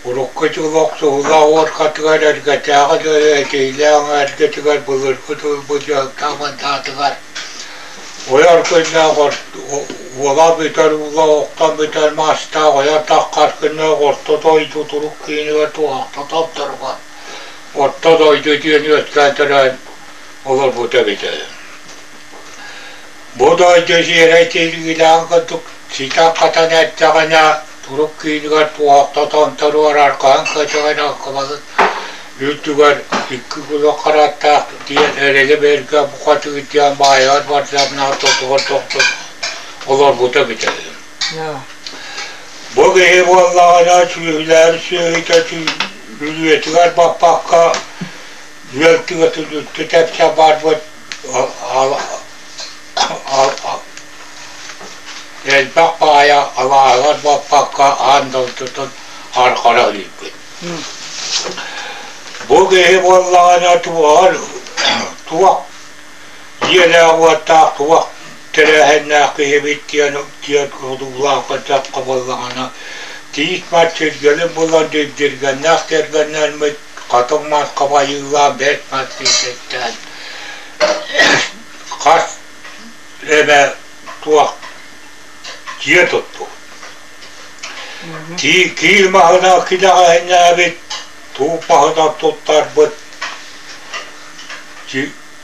Урукку дьылы Охсуһула уоркатыгар эргэтээҕи дьону этиилээх эҕэрдэтигэр былыргы тылбыт дьылтан мандаатыгар ойор күннээх уола бүтэр уула охтон бүтэр маастаах ойор таххар күннээх орто дойду турук киинигэр туһахта толторугар орто дойду диэн үөскээн төрөөн олорбута эбитэ Бу дойду сиэрэй тириилээх курдук ситэн-хатан эрдэҕинэ, турук киинигэр туохтотон туруорар хаһан көтөҕөн алкымаҕыт үрдүгэр икки кулак харааттаахпыт диэн эрэлэ-бэргэ букатыыр диэн баайаҕар бардарнаах тотугар тохтот олорбута бүтэрин. Бу киһи буоллаҕына сүөһүлээри сүөһүтэ сүлүөтүгэр баппакка, үөл түгэтин үттэ тэпсэ барбыт элбэх баайа алааһыгар буоппакка аан дойдутун харҕара иликпит бу киһи буоллаҕына туоһар туох дьиэлээх-уоттаах туох тэрээһиннээх киһибит диэн диэн одуулаах кырдьахха буоллаҕына тиис мат сиргэлин булан дирдиргэннээх тиргэннэрмит Хотон Маркова Айыылаах Бэрт Матвеевичтэн хас эмэ туох дьиэ туттубут. Киил маһынан килэҕэһинээбит, тууб маһынан туттарбыт,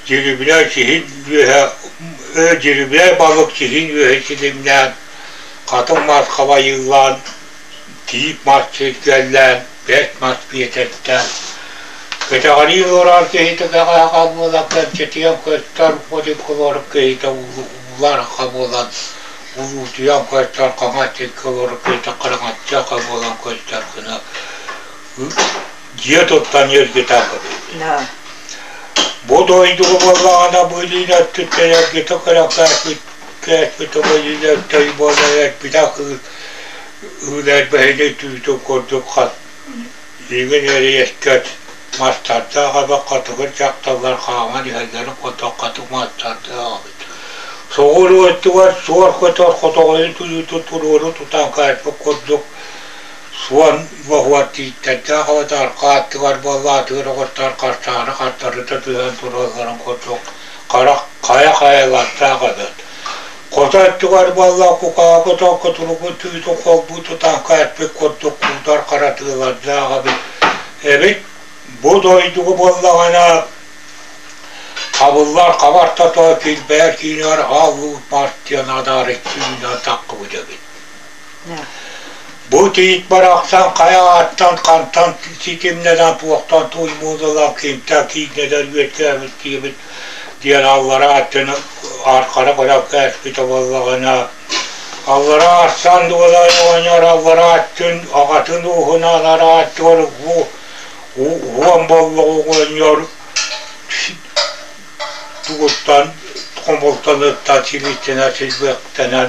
дьирибинэй сиһин үөһэ, дьирибинэй балык сиһин үөһэ силимнээн, Хатыҥ Маркова Айыылаан тиит мас сирдьэллээн, бэс мас биэтэртээн, кэтэҕэлии олорор киһитэ даҕааҕа буолан кэмчитийэн көстөр бодиколор киһитэ уларха буолан улуутуйан көстөр хаҥатчыккалор киһитэ хараҥаччаха буолан көстөр гына дьиэ туттан эргитэн кэбиһэр. Бу дойдуга буоллаҕына бу илиин өттүттэн эргитэ көрөн кээспит кээспит оба илин өттөй буола эрбитэ кыыс Үүнээйбэһиги түүтүн курдук хат, иҥин эрэйэскэт, мастардаах эбэх хотугур дьахталлар хааман иһэллэрин хотох хатык маастардаах эбит. Соҕуру өттүгэр суор көтөр хотоҕойун тыытын туруору тутан хаайпыт курдук суон боһугар тииттэрдээх абатар хааттыгар буолла атыыр оҕустар харчааны хартарыта түһэн туралларын курдук харах хайа хайалардаах эбит Хото өттүгэр буолла кукаабыта, кутуругу түүтүн холбуу тутаахха эппит курдук куутар харатыылардаах эбит. эбит. Бу дойдугу буоллаҕына хабыллар хабартата килбээр киинигэр хааллыбыт партияны адаарык түүнү атаххыбыт эбит Бу тиит барахсан хайа ааттан хантан ситимнэнэн туохтан туймуулалан кимтэн кииннэнэн үөскээбит диэбит диэн аллараа өттүн архара көрөн кээспит буоллаҕына аллараа арсан дуолан оҕонньор аллараа өттүн аҕатын ууһунан арааччылар уу уон боллох оҕонньор тугуттан хомултанытта сибиттэнэ силбэктэнэн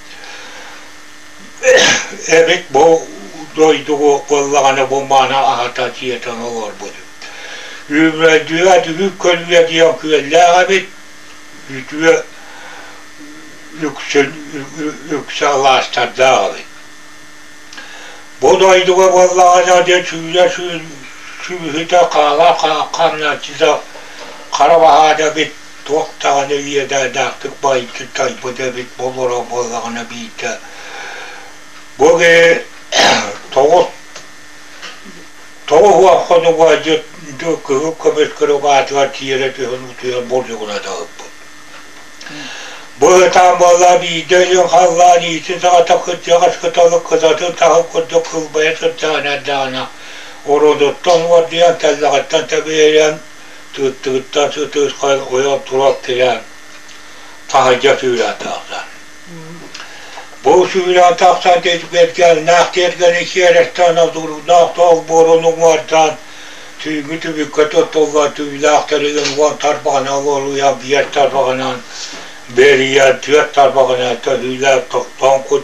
Эбит бу дойдугу кыллаҕана бу мааны аһата дьиэтин олорбутум. Үүмөлдүө дүһүк көлүйэ диэн күөллээх эбит. Үтүө үксүн үксэ алаастардаах эбит. Бу дойдуга буоллаҕына де сүүрэ сүүрбүһүтэ хаала хаамнарчыта хара баһаата бит туох даҕаны иэдээннээхтик байытыттарбыт эбит буолара буоллаҕына биирдэ бу киһи тоҕус тоҕус уон хонугу кыһыл көмүс кырык аатыгар тиэрэ түһэн утуйан болдьоҕуна даҕыппыт быһытаан буолла биирдэ өйүн халлаан иитин саҕата кырдьаҕас кыталык кытатын таһын курдук кылбайа сырдьаҕын эрдэҕинэ ородуттан уордуйан тэллэҕиттэн тэбиэйэн Тыыттыгыттан сытыырхай ойон тура тирээн таһырдьа сүүрээн тахсар. Бу сүүрээн тахсан тирбэтгэллээх тиэргэни сиэрэстээн одуурдаах тоох буорун уҥуордаан түүҥҥү түбүккэ туттуллан түүлээх тэрилин уон тарбаҕына уолуйан биэр тарбаҕынан бэрийэн түөрт тарбаҕына төһүүлээн тохтоон кут